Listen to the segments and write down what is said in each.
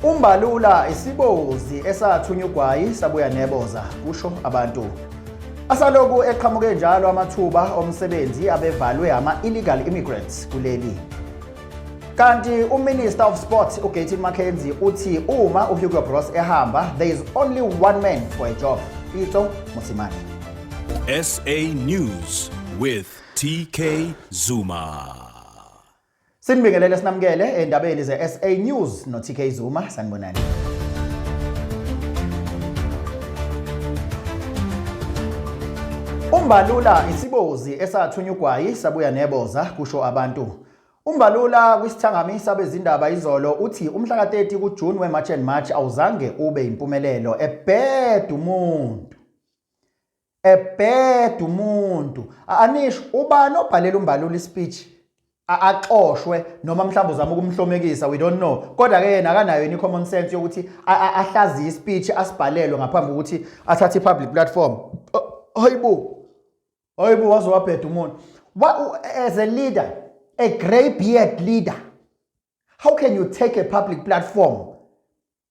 Umbalula isibozi esathunya ugwayi sabuya neboza kusho abantu. Asaloku eqhamuke njalo amathuba omsebenzi abevalwe ama illegal immigrants kuleli. Kanti uMinister of Sports uGatin McKenzie uthi uma uHugo Broos ehamba there is only one man for a job. Ito Musimani. SA News with TK Zuma. Sinibingelele sinamukele endabeni ze-SA News no-TK Zuma sanibonani. Umbalula isibozi esathunya ugwayi sabuya neboza kusho abantu. Umbalula kwisithangami sabezindaba izolo uthi umhla ka-30 kuJune we-March and March awuzange ube impumelelo ebheda umuntu. a bad umuntu anisho ubani obhalela umbalula ispeech axoshwe noma mhlawumbe uzama ukumhlomekisa we don't know kodwa ke yena akanayo ini common sense yokuthi ahlazi ispeech asibhalelwe ngaphambi kokuthi athathe public platform hayibo hayibo waze wabheda umuntu as a leader a grey beard leader how can you take a public platform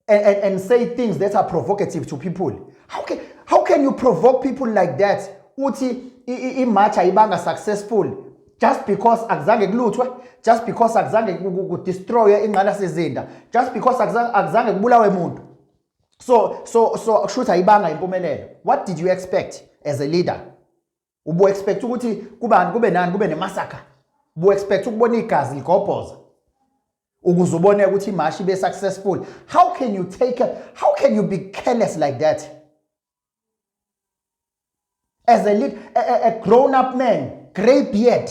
and, and, and say things that are provocative to people how can, how can you provoke people like that uthi imatch ayibanga successful just because akuzange kuluthwe just because akuzange kudestroye ingqalasizinda just because akuzange kubulawe muntu so so so kushuthi ayibanga impumelelo what did you expect as a leader ubu expect ukuthi kubani kube nani kube nemasaka ubu expect ukubona igazi ligobhoza ukuze ubone ukuthi imashi ibe successful how can you take a, how can you be careless like that as a, a, a grown up man grey beard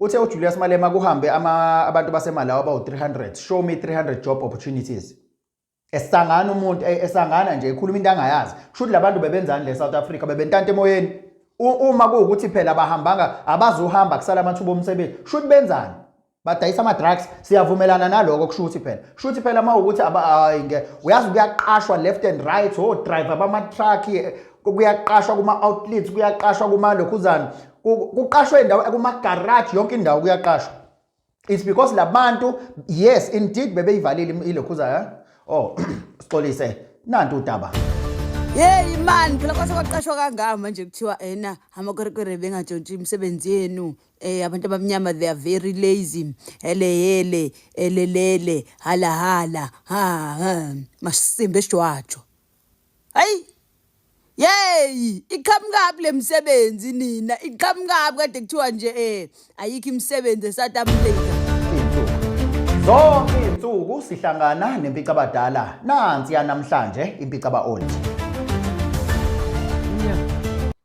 Uthe uJulius Malema kuhambe ama abantu baseMalawi abawu-300 show me 300 job opportunities esangana umuntu eh, esangana nje ekhuluma into angayazi kusho ukuthi labantu bebenzani le South Africa bebentanta emoyeni uma kuwukuthi phela bahambanga abazohamba kusala amathuba omsebenzi kusho ukuthi benzani badayisa ama-drugs siyavumelana naloko kusho ukuthi phela kusho ukuthi phela uma ukuthi ayinge uyazi kuyaqashwa left and right o oh, driver bama-truck eh, kuyaqashwa kuma-outlets kuyaqashwa kumalokhuzana kuqashwe indawo kumagaraji yonke indawo kuyaqashwa it's because labantu yes indeed bebeyivalile ilokhuza eh? oh sixolise nanti udaba yeyi mani phela kwase kwaqashwa kangaka manje kuthiwa ena amakwerekwere bengatshontshi imisebenzi yenu eh abantu abamnyama they are very lazy hele hele elelele hala hala ha masimbe ejwajo hayi yeyi iqhamukabi le msebenzi nina iqhamukabi kade kuthiwa nje um ayikho imisebenzi esouth africa zonke iy'nsuku sihlangana nempicabadala nansi yanamhlanje impicaba old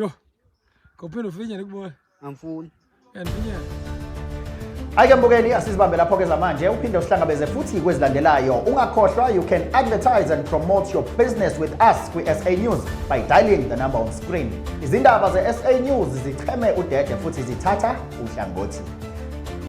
Yo. Kopelo finya nikubona. Angifuni. Yandifinya. Ayike mbukeli asizibambe lapho ke zamanje uphinde usihlangabeze futhi kwezilandelayo ungakhohlwa you can advertise and promote your business with us kwi-sa news by dialing the number on screen izindaba ze-sa news zicheme udede futhi zithatha uhlangothi